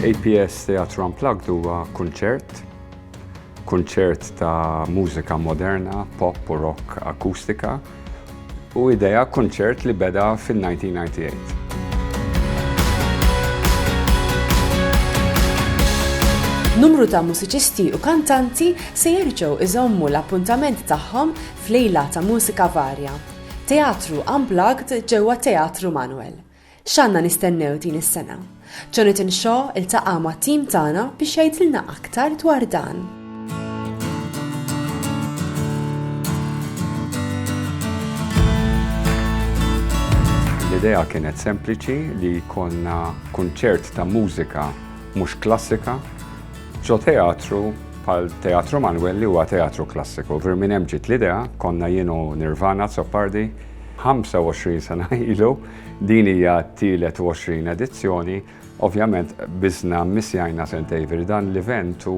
APS Teatru Unplugged huwa kunċert, kunċert ta' mużika moderna, pop u rock akustika, u idea kunċert li beda fin-1998. Numru ta' mużiċisti u kantanti se jerġgħu iżommu l-appuntament tagħhom f'lejla ta' mużika varja, Teatru Unplugged ġewwa Teatru Manuel. X'għandna nistennew din is-sena? Jonathan Shaw iltaqa' mat-tim tagħna biex jgħidilna aktar dwar dan. L-idea kienet sempliċi li jkollna kunċert ta' mużika mhux klassika ġo teatru bħal Teatru Manwel li huwa teatru klassiku. Vir minn hemm ġiet l-idea, konna jienu Nirvana Zoppardi, 25 sena ilu, Din hija t-tielet 20 edizzjoni, ovvjament biżna missjajna St. Avery dan l-event u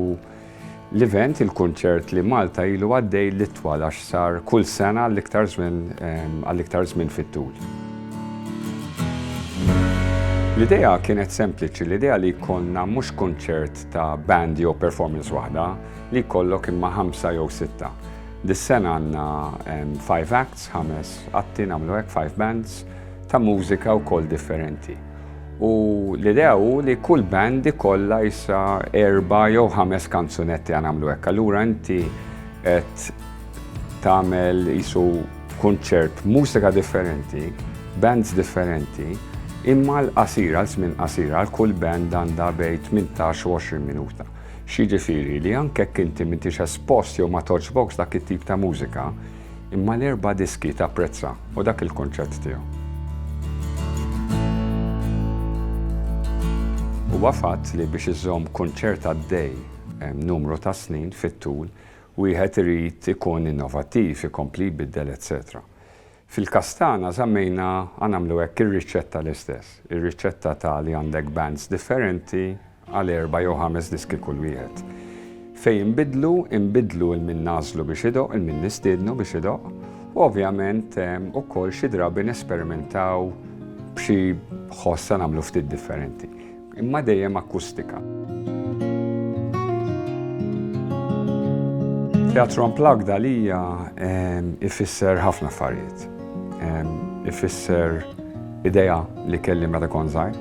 l-event il-kunċert li Malta ilu għaddej l-itwal għax sar kull sena l-iktar żmien għall-iktar żmien fit-tul. L-idea kienet sempliċi, l-idea li jkollna mhux kunċert ta' band jew performance waħda, li jkollok imma ħamsa jew sitta. Dis-sena għandna five acts, ħames atti nagħmlu hekk, five bands, ta' mużika wkoll differenti. U l-idea hu li kull band ikollha issa erba' jew ħames kanzunetti għan nagħmlu hekk. Allura inti qed tagħmel isu kunċert mużika differenti, bands differenti, imma l-qasira, l-żmien qasira, l-kull band għandha bejn 18 u 20 minuta. X'jiġifieri li anke jekk inti m'intix espost jew ma togħġbokx dak it-tip ta' mużika, imma l-erba' diski tapprezza u dak il-kunċett tiegħu. Huwa fatt li biex iżżomm kunċert għaddej numru ta' snin fit-tul, wieħed irid ikun innovattiv, ikompli jbiddel etc. Fil-każ tagħna żammejna a nagħmlu hekk ir-riċetta l-istess. Ir-riċetta ta' li għandek bands differenti għal erba' jew ħames diski kull wieħed. Fejn inbiddlu, inbiddlu 'l min nagħżlu biex idoqq, 'l min nistiednu biex idoqq, u ovvjament ukoll xi drabi nesperimentaw b'xi ħoss a nagħmlu ftit differenti. Imma dejjem akkustika. Teatru Unplugged għalija ifisser ħafna affarijiet. Ifisser ideja li kelli meta kon żgħir.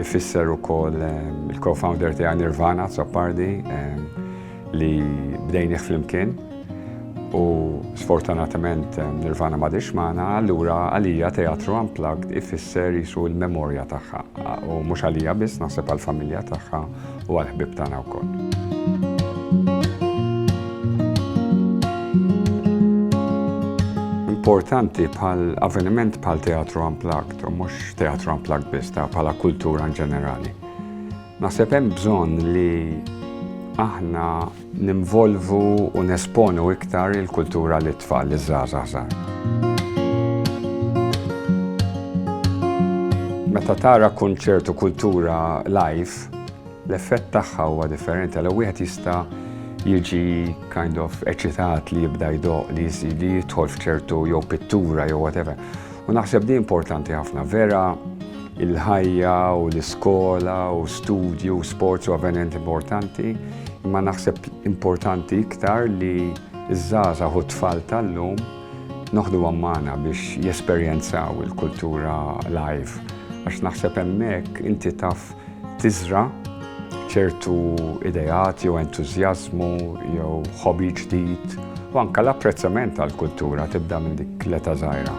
Ifisser ukoll il-co-founder tiegħi Nirvana Zappardi. Li bdejnih flimkien u sfortunatament eh, Nirvana ma dix maħna, allura għalija teatru unplugged ifisser jisu il-memorja tagħha u mhux għalija biss naħseb għall-familja tagħha u għall-ħbib tagħna wkoll. importanti bħal avveniment bħal teatru unplugged, u mhux teatru unplugged biss, ta' bħala kultura in ġenerali. Naħseb hemm bżonn li aħna nimvolvu u nesponu iktar il-kultura li tfal li żgħażagħ Meta tara kunċert u kultura live, l-effett tagħha huwa differenti għal wieħed jista' jiġi kind of eċitat li jibda jdoq li jidħol f'ċertu jew pittura jew whatever. U naħseb di importanti ħafna, vera il-ħajja u l-iskola u studju u sports u avvenent importanti, imma naħseb importanti iktar li iż-żaza u t-tfal tal-lum noħdu għammana biex jesperjenzaw il-kultura live. Għax naħseb emmek inti taf tiżra' ċertu ideat jew entużjażmu jew ħobi ġdid u anke l-apprezzament għall-kultura tibda minn dik l-età żgħira.